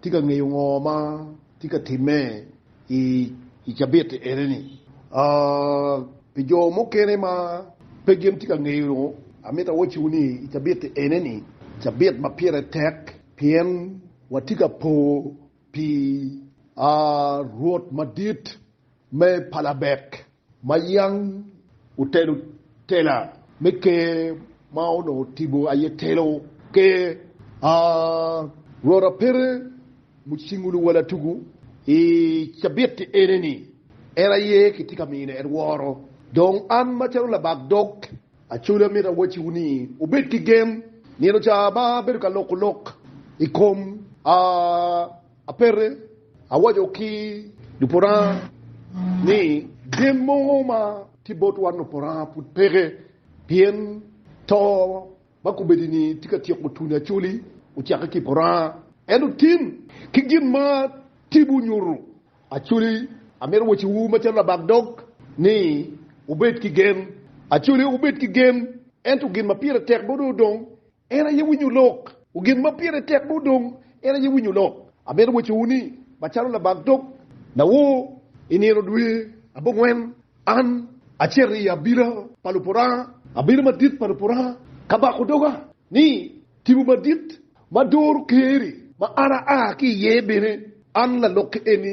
Tye ka ngeyo ngo ma tye ka timme i cabit eneni? Pi jo mukene ma pe gin tye ka ngeyo, amito awacciwu ni i cabit eneni, cabit ma pire tek pien watye ka po pi Rwot madit me palabek ma yam otelo tela me ker ma onongo otibo aye telo ker a Rwota Pere Mucingulu Luwalatugu i cabitti eneni en aye kitye ka mine en woro dong an macalo labak dog acoli amito awacciwu ni wubed ki gen nino ca ma abedo ka loko lok i kom a Apete, awaco ki luporanga ni gen mogo ma tye bot wan luporanga pud peke, pien to ma kobedini tye ka tyeko tuni acoli ocakke ki i poranga. Ento tim ki gin ma tibu nyutu acoli. Amito waciwu macalo labak dog ni wubed ki gen. Acoli wubed ki gen, ento gin ma pire tek botwu dong En aye winyo lok. O gin ma pire tek bot dong, en aye winyo lok. Amito wacowu ni, macalo labag dog nawor i nino dwe abongwen, an acito i abila pa Lupuranga, abila madit pa Lupuranga, ka bako doga ni tipo madit ma doro Ker-ri ma an aa ki iye bene, an lalok-ke eni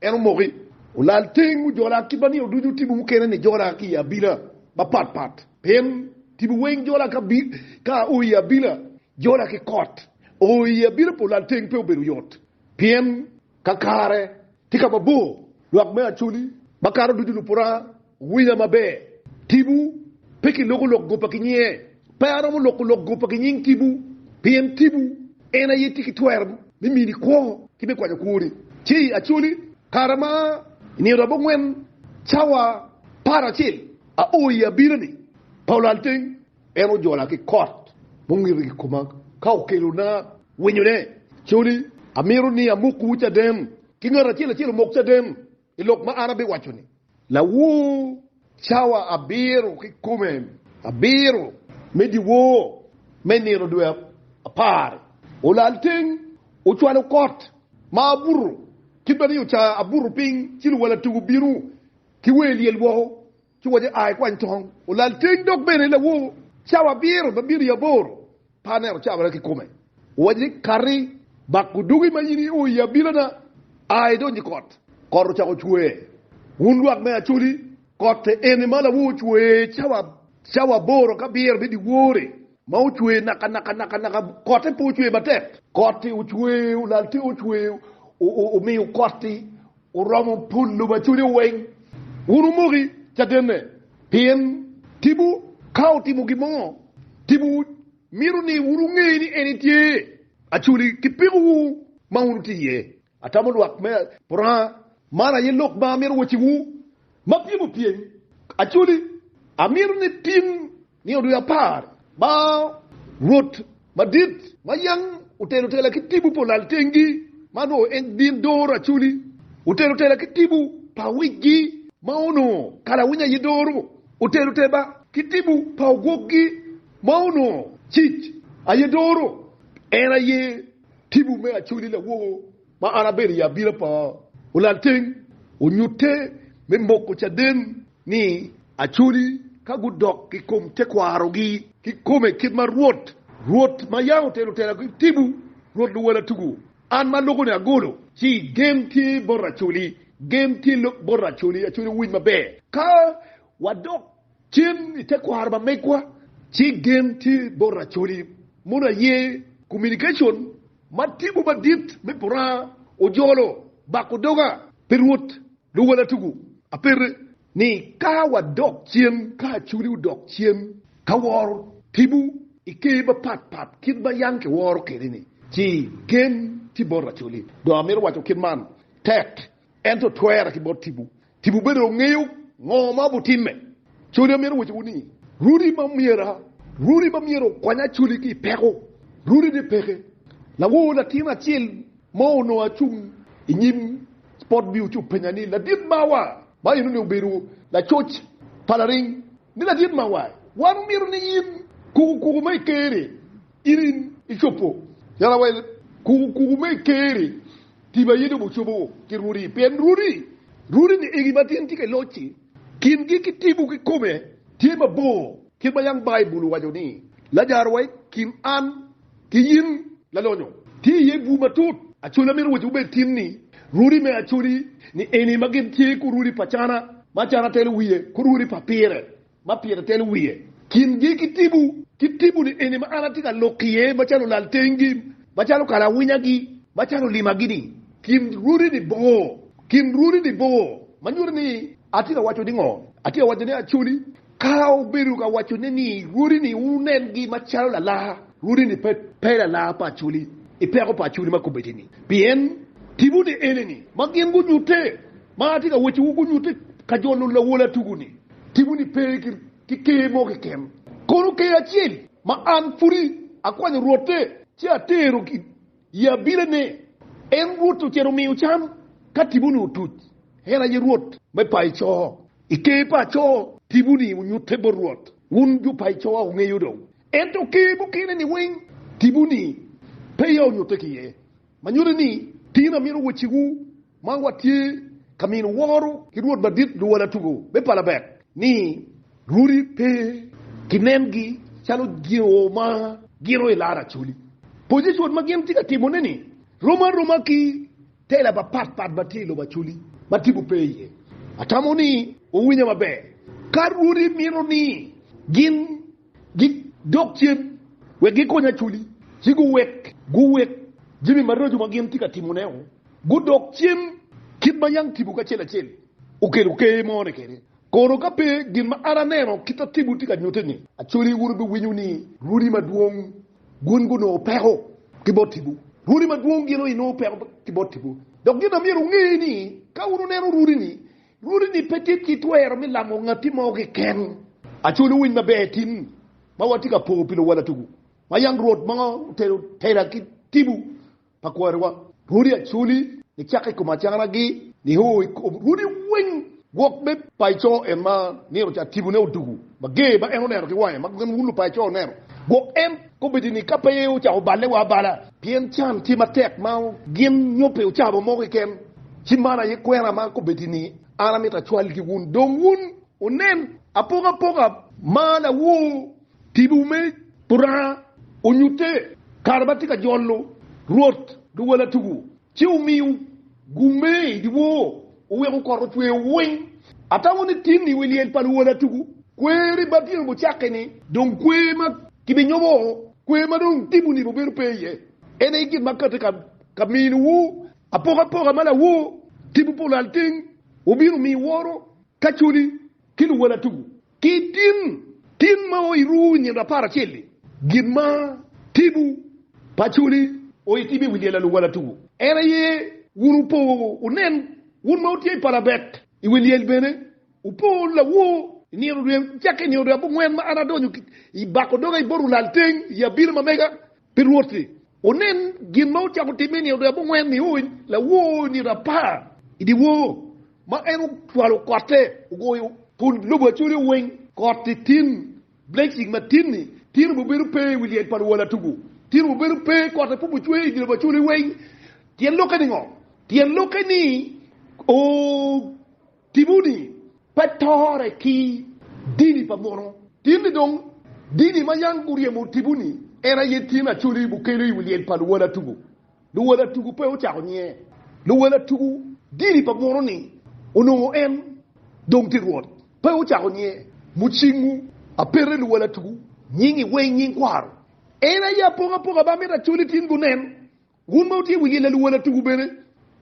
En omoki, olal teng, ojola kit ma nino ducu otimo mukene ni jola ki i abila mapat pat. Pien tipo weng jola ka o i abila jola ki kot o i abila pa olal teng pe obedo yot, pien kakare tye ka mabor lwak me Acholi makato ducu lupura Winya maber, Tibu pe kiloko lok goba ki nyinge. Pe aromo loko lok goba ki nying Tibu, pien Tibu en aye tye ki twero me mini kwo ki me kwanyo kwoni. Ci i Acholi, kare ma i nino abongwen cawa par acel, ao i abirani pa olalteng, en ojola ki kot mungito i koma ka okelona winyone. Acholi, amito ni amokwu caden, ki ngat acel acel omok caden. i lok ma an abiwaco-ni. Lawor cawa abiro kikome abiro me dyewor me nino dwe apar-ri, olal teng, ocwalo kot ma abuto, ki bene oca abuto piny, ci luwala tugu bino ki wer lyel woko. Ci owaco, A, ikwany tong, olal teng dok bene lawor cawa abiro ma bino i abor pa aneno cawara kikome. Owaco ni, Kati, bak odugi ma in io i abilana, a idonj i kot. Kot ocako cwer. Wun lwak me Acholi, kot eni ma lawor cwer cawa cawa aboro ka abiro me dyewor-ri, ma ocwer naka naka naka naka, kotte pe ocwer matek. Kot-ti ocwer, olal teng ocwer, omiyo kot-ti oromo pul lubacude weng. Wun wumoki cadenne, pien tipo ka otimo gin mo, tipo mito ni wun wunge ni en etye aculi ki pikowu ma wun wutye iye. Atamo lwak me Puranga, man aye lok ma amito waciwu, ma pyem opyem aculi, amito ni tin Ni odul apar ma Rwot madit ma yam otelo tela ki tipo pa olal tengi, ma onongo en gin doro acoli, otelo tela ki tipo pa awicgi ma onongo kalawiny aye doro, otelo teba ki tipo pa ogwokgi ma onongo cic aye doro, en aye tipo me acoli lawogo ma an abedo i abira pa olal teng, onyutte me moko caden ni acoli ka gudok i kom tekwarogi kikome kit ma Rwot, Rwot ma yam otelo tela ki tipo, Rwot luwela tugo. An ma aloko ni agolo, ci gen tye bot acoli, gen tye bot acoli, acoli owiny maber. Ka wadok cen i tekwaro pa megwa, ci gen tye bot acoli, mono aye, communication, Ma tibu madit me puranga ojolo bako doga pi Rwot luwala tugu apete, ni ka wadok cen, ka aculi odok cen ka woro tibu i ker mapat pat kit ma yam kiworo kwede-ni, ci gen tye bot aculi. Dong amito waco kit man tek. Ento twerra ki bot tipo. Tipo bene dong ngeyo ngo ma obutimme. Coli amyero wacciwu ni, Runi ma myera, runi ma myero okwanya coli ki i peko, runi ni peke. Lawor latin acel mo onongo acung i nyim spot bio ci openya ni, Ladit mawa, ma enoni obedo lacoc pa laring, ni, Ladit mawa, wan omyero ni in kuku kuku ma i ker-ri. In icobo yala wa kuku kuku me Ker-ri, Tim aye dong ocobo wa ki Rwodi, pien Rwodi, Rwodi ni egi ma tyen tye ka loc-ci, kingi ki tipo kikome tye mabor, kit ma yang Baibul owaco ni, Lajaro wa i kin an ki in lalonyo, tye iye bur matut. Acoli amito wacciwu bene tin ni, Rwodi me acoli ni eni ma gin tye ku rwodi pa cana, ma cana telo wiye, ku rwodi pa pire, ma pire telo wiye kingi ki tibu, ki tibuni eni ma an atye ka lok iye macalo lal tengi, macalo kala awinyagi, macalo limagi-ni, kin rwodi-ni bor, kin rwodi-ni bor, ma nyuto ni atye ka waco ningo? Atye ka waco ni acoli ka obedo ka wacone ni rwodi-ni wunen-gi macalo lalar, rwodi-ni pe, pe lalar pa acoli i peko pa acoli ma kobedini, pien tibuni enini ma gin gunyutte, ma atye ka wacciwu gunyutte ka jo lulawol atugu-ni. Timo ni pe ki ker mo keken, kono ker acel ma an pudi akwanyo Rwotte ci atero ki i abirane. En Rwotte ocito omiyo can ka timo-ni otuc. En aye Rwot me paco. I ker paco, timo-ni onyutte bot Rwot. Wun jo paco wungeyo dong. Ento ker mukene-ni weng, timo-ni peya onyutte ki iye. Ma nyuto ni, tin amito wecciwu. Man watye ka mino woro ki Rwot Madit Luwala Tugo me Palabek ni rwodi pe kinengi calo jo ma gito i lar Acholi. Pozicon ma gin tye ka timone-ni rom aroma ki tela mapat pat ma tye i lobo Acholi ma tipo pe iye. Atamo ni wuwinya maber ka rwodi mito ni gin. Gidok cen wek gikony Acholi, ci guwek guwek jami maraco ma gin tye ka timone-o. Gudok cen kit ma yam tipo kacel acel okelo ker mone kwede. Kono ka pe gin ma an aneno kit ma tipo tye ka nyutte-ni, Acholi wun wubiwinyo ni rwodi madwong gin gunongo peko ki bot tipo. Rwodi madwong gin onongo peko ki bot tipo. Dok gin ma myero wunge ni ka wun wuneno rwodi-ni, Rwodi ni pe tye ki twero me lamo ngatti mo keken. Aculo winy maber tin ma watye ka po pi luwala tugu ma yam Rwot ma otero tera ki tibu pa kwariwa. Rwodi aculi ni cak i kom acara gi ni o i kom rwodi weng gwok me paco en ma nino ca tibune odugu ma ger ma en oneno ki wange ma gwok en wun lupaco oneno gwok en. Kobedi ni ka pe ocako balle wa abala pien can tye matek ma gin nyo pe ocabo mo keken, ci man aye kwena ma kobedi ni an amito acwalgi wun. Dong wun wunen apokapoka ma lawor tibu me Puranga onyutte kare ma tye ka jolo Rwot duwal atugu. Ci omiyo gume i dyewor, oweko kot ocweyo weng. Atamo ni tin i wi lyel pa luwola tugu. Kwer i bad dyang-ngu cakke-ni. Dong kwer ma kibinyomo, kwer ma dong tipo nibo bedo pe iye, en aye gin ma katye ka minowu apokapoka ma lawor tipo pa olalteng obino miyo woro ka coli ki luwola tugu. Ki tin, tin ma o iruwu nyen rapar acel-li, gin ma tibu paconi o itibo i wi lyel aluwala tuku. En aye wun wupo wunen, wun ma wutye i palabet i wi lyel bene, wupo lawo i nino rweny, cakke i nino rweny abongwen ma an adonyo i bako doga i bot lulalteng i abiro ma mega, Pi Rwot-ti, wunen gin ma wucako timme-ni, Odero abongwen niony lawooni rapar i dyewor, ma en ocwalo kotte ogoyo kun lobo acolyo weng koti tin, blessing ma tin-ni tin obi bedo pe i wi lyel pa luwala tugu, tin obi bedo pe, kotte pe obi cwer i dye lobo acolyo weng. Tyen lokke ni ngo? Tyen lokke ni, Oo! Timoni pe tore ki dini pa mono. Tin ni dong dini ma yang guryemo timoni en aye tin Acholi bukelo i wi lyel pa luwal atugu. Luwal atugu pe ocako nye. Luwal atugu dini pa mono ni onongo en dong tye rwot pe ocako nye. Mucingu apete luwal atugu nyingi weng nying kwaro. En aye apokapoka ma amito Acholi tin gunen Wun ma wutye wiye laluwa latuku bene,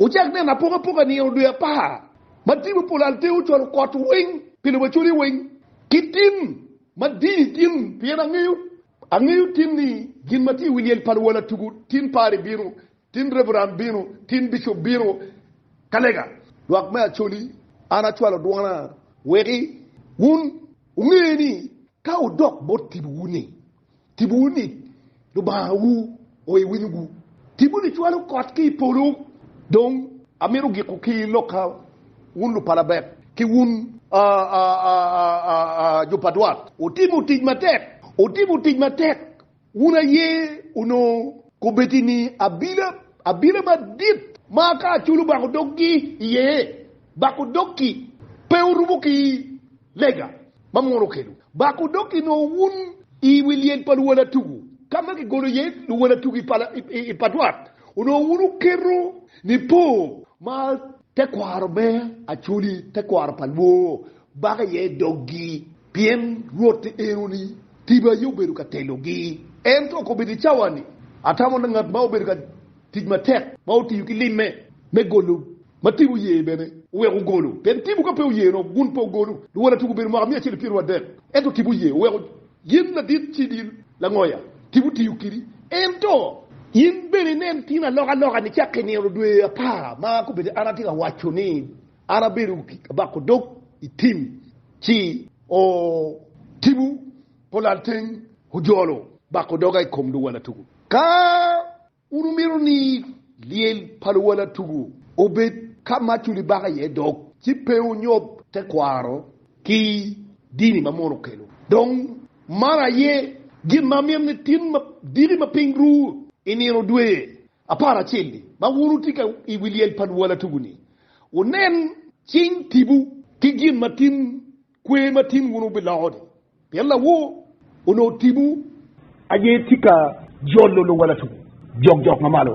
wucak neno apokapoka nino dwe apar, ma tipo pol al tewo cwalo kot weng pi lobo acwali weng, ki tim madini gin, pien angeyo, angeyo tin ni gin ma tye i wi lyel pa luwa latuku, tin pari bino, tin reveran bino, tin bicup bino ka lega. Lwak me Acholi, an acwalo dwona weki wun wunge ni ka wudok bot tibuwu ni, Tibowu ni Lubangawu oye winyowu. Tibo ni cwalo kot ki i polo. Dong amito giko ki lokka, wun lupalabek, ki wun jo pa dwat. Wutimo tic matek, wutimo tic matek, wun aye onongo kobeti ni abila, abila madit ma ka aculu bako doggi iye, bako dog-ki, pe orumo ki lega. ma mwono kelu bako dok inongo wun i wi lyel pa luwalatugu ka ma kigolo iye luwalatugu i pa dwat, onongo wun wuketo nipo ma tekwaro me Acoli, tekwaro pa lwor, bako iye doggi, pien Rwot eno-ni tiba aye obedo ka telogi. Ento okobedo i cawa-ni, atamo ngat ma obedo ka Tic matek ma otiyo ki limme me golo ma Tim oye bene oweko ogolo. Pien Tim ka pe oyeno, gun pe ogolo. Luwala tugo obedo mwaka mia acel ki pyeraryo adek, ento Tim oye oweko. In ladit civil langoya, Tim otiyo kidi. Ento. In bene inen tin alokaloka ni cakka i nino dwe apar ma kobedi an atye ka waco ni an abedo abako dog i Tim ci o Tim-u. Polalteng ojolo bako doga i kom luwala tugu. Ka wun wumito ni lyel pa luwala tugu obed ka ma tuli bako iye dog, ci pe wunyob tekwaro ki dini ma mono okelo. Dong man aye gin ma amito ni tin madiki ma piny ru i nino dwe apar acel-li ma wun wutye ka i wi lyel pa luwala tugu-ni, wunen cing tibu ki gin ma tin Kwer ma tin wun wubiloko-ni, pien lawor onongo timwu. Aye tye ka jolo luwalatungu jokjok mamalo.